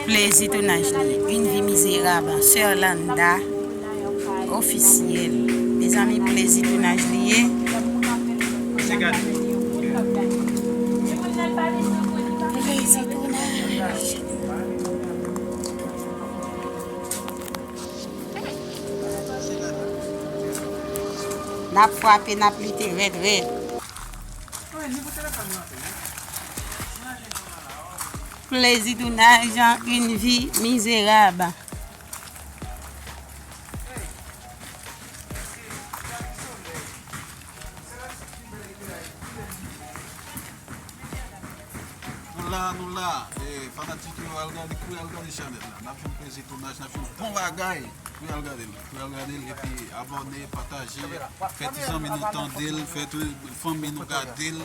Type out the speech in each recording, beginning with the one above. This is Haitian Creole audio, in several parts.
Plezi tounaj li yn vi mizerab soeur Landa officiel mezanmi plezi tounaj li ye plezi tounaj. Nap fwape nap lite red red. Plezi tounaj an yn vi mizerab. Nou la nou la e fanatik yo al gade pou yal gade chanèl la nap fè plezi tounaj nap fè bon bagay pou yal gadel pou yal gadel epi abòne pataje fè ti zanmi nou tandel fè fanmi nou gadel.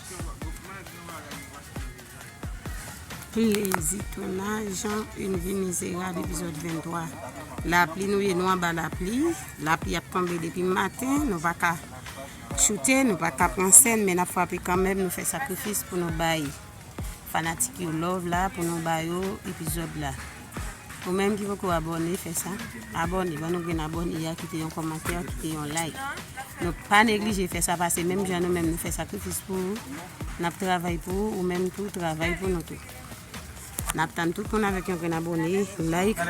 Plezi tounaj jan yn vi mizerab epizòd 23 lapli nou ye nou anba lapli lapli ap tonbe depi maten nou paka choute nou paka pran sèn men nap frape kanmenm nou fè sakrifis pou nou bay Fanatik yo love la pou nou ba yo epizòd la ou menm ki poko abòne fè sa abòne ban nou grenn abòne ya kite yon kòmantè kite yon like nou pa neglije fè sa pase menm jan nou menm nou fè sakrifis pou ou nap travay pou ou ou menm tou travay pou nou tou nap tann tout moun avèk yon grenn abòne like.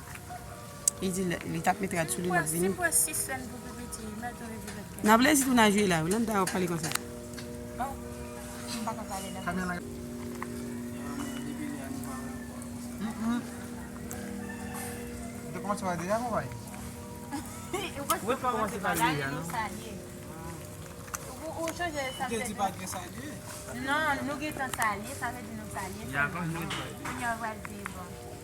Li di li tap met rad sou li lap vini. Nan vle si tou nan jwe la. Nan ta wap pale konsa.